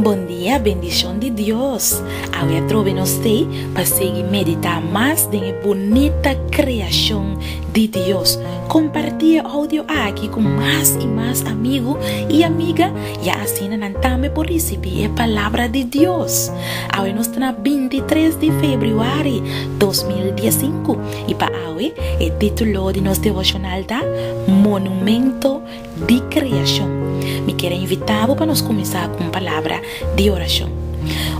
Bon dia, bendishon di Dios! Awe a trobe nos stay pa sigui meditá mas den e bunita kreashon di Dios. Kompartí e oudio aki ku mas i mas amigu i amiga i asina nan tambe por risibí e palabra di Dios. Awe nos ta na binti tres di febrüari dos mil dies sinku. I pa awe e titulo di nos devoshonal ta, Monumento di Kreashon. Mi kier a invitá bo pa nos kuminsá ku un palabra di orashon.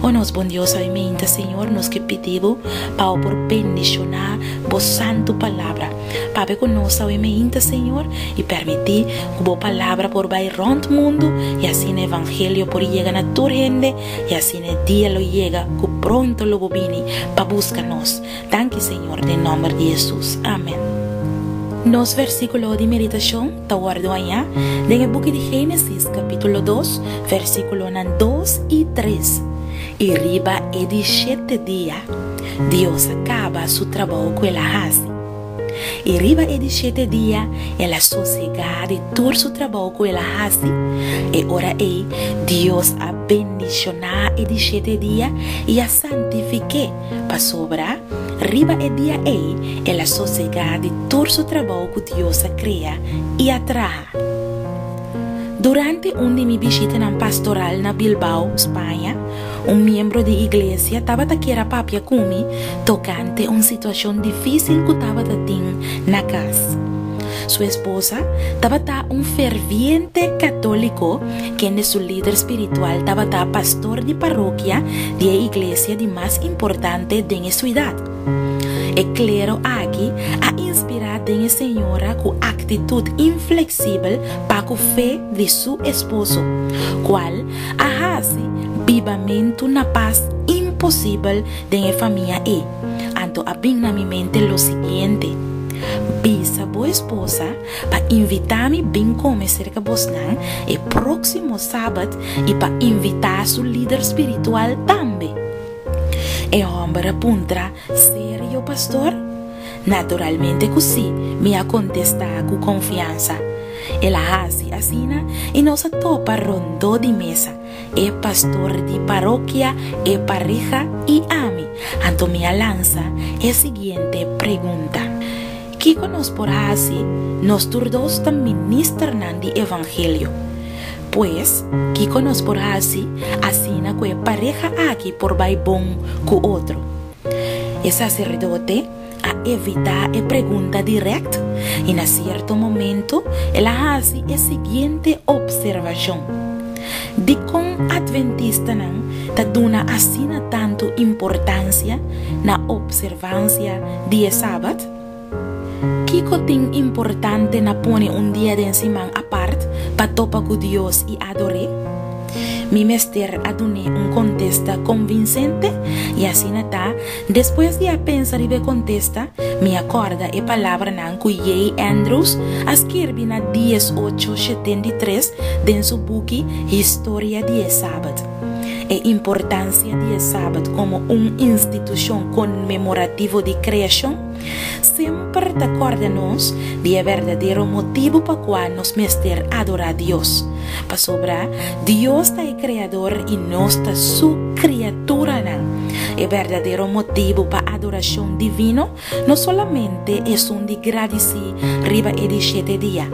O nos Bon Dios sabimente, Señor, nos ke pidi bo pa bo por bendishoná bo santu palabra. Papia ku nos awemente, Señor, i pèrmití ku bo palabra por bai rònt mundu i asina e evangelio por yega na tur hende i asina e dia lo yega ku pronto lo bo bini pa buska nos. Danki Señor, den nomber di Jesus. Amen. Nos versíkulo di meditashon ta wòrdu hañá den e buki di Génesis kapítulo dos, versíkulonan dos i tres. I riba e dishete dia, Dios a kaba Su trabou ku El a hasi. I riba e dishete dia, El a sosegá di tur Su trabou ku El a hasi. E ora ei, Dios a bendishoná e dishete dia i a santifik'é, Pasobra, riba e dia ei el a sosegá di tur su trabou ku Dios a krea i a traha. Durante un di mi bishitanan pastoral na Bilbao, Spaña, un miembro di iglesia tabata kier a papia ku mi tokante un situashon difísil ku tabata tin na kas. Su esposa tabata un ferviente católico, kende su lider spiritual tabata pastor di parokia di e iglesia di mas importante den e suidad. E klero aki a inspirá den e señora ku aktitut infleksibel pa ku fe di su esposo, kual a hasi bibamentu na pas imposibel den e famia ei. Anto a bin na mi mente lo siguiente, Bisa bo esposa pa invitá mi bin kome serka bosnan e próksimo Sabat i pa invitá su líder spiritual tambe. E hòmber a puntra, Serio, pastor? Naturalmente ku sí, mi a kontestá ku konfiansa. El a hasi asina i nos a topa rondó di mesa. e pastor di parokia e pareha i ami. Anto mi a lansa e siguiente pregunta, Kiko nos por hasi nos tur dos ta ministernan di evangelio? Pues, kiko nos por hasi asina ku e pareha aki por bai bon ku otro? E saserdote a evitá e pregunta dirèkt i na sierto momentu el a hasi e siguiente opservashon, Dikon adventistanan ta duna asina tantu importansia na opservansia di e Sabat? Kiko tin importante na pone un dia den siman apart pa topa ku Dios i ador'é? Mi mester a dun'é un kontesta konvinsente i asina ta Despues di a pensa riba e contesta, mi a corda e palabranan cu J. Andrews a skirbi na dies ocho sheten di tres den su buki Historia di e Sabat. E importancia di e Sabat como un institucion conmemorativo di creacion, Semper ta kòrda nos di e berdadero motibu pa kua nos mester adorá Dios. Pasobra Dios ta e Kreador i nos ta Su kriaturanan. E berdadero motibu pa adorashon divino no solamente esun di gradisí riba e di shete dia,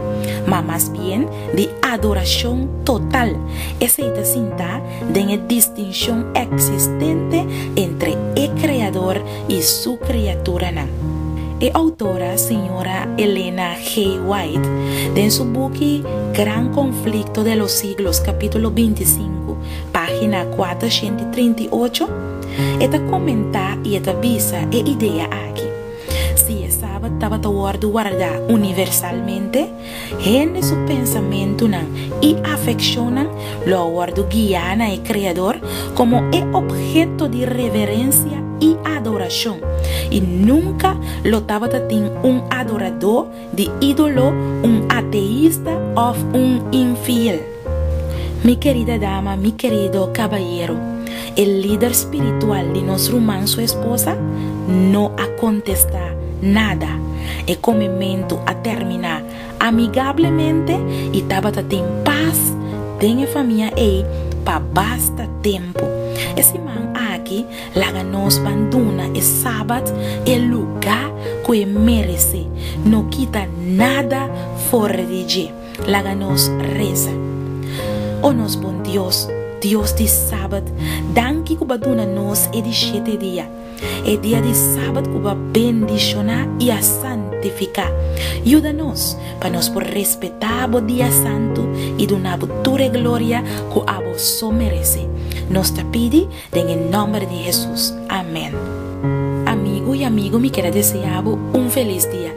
ma mas bien di adorashon total, esei ta sintá den e distinshon eksistente entre e Kreador i su kriaturanan. E outora señora Elena G. White, den su buki Gran Conflicto de los Siglos, capítulo binti sinku, página kuater shent i trinta i ocho, e ta komentá i e ta bisa e idea aki, Si e Sabat tabata wòrdu wardá universalmente, Hende su pensamentunan i afekshonnan lo a wòrdu guiá na e Kreador komo e opheto di reverensia i adorashon, i nunka lo tabata tin un adoradó di ídolo, un ateista òf un infiel. Mi kerida dama, mi kerido kabayero, e lider spiritual di nos ruman su esposa no a kontestá nada. E komementu a terminá amigablemente i tabata tin pas den e famia ei pa basta tempu. E siman aki laga nos ban duna e Sabat e lugá ku e meresé, no kita nada for di dje. Laga nos reza. O nos bon Dios, Dios di Sabat, danki ku bo a duna nos e di shete dia, e dia di Sabat ku bo a bendishoná i a santifiká. Yuda nos pa nos por respetá bo dia santu i duna bo tur e gloria ku abo so merese. Nos ta pidi den e nòmber di Hesus. Amèn. Amigu i amigo mi keda deseá bo un felis dia.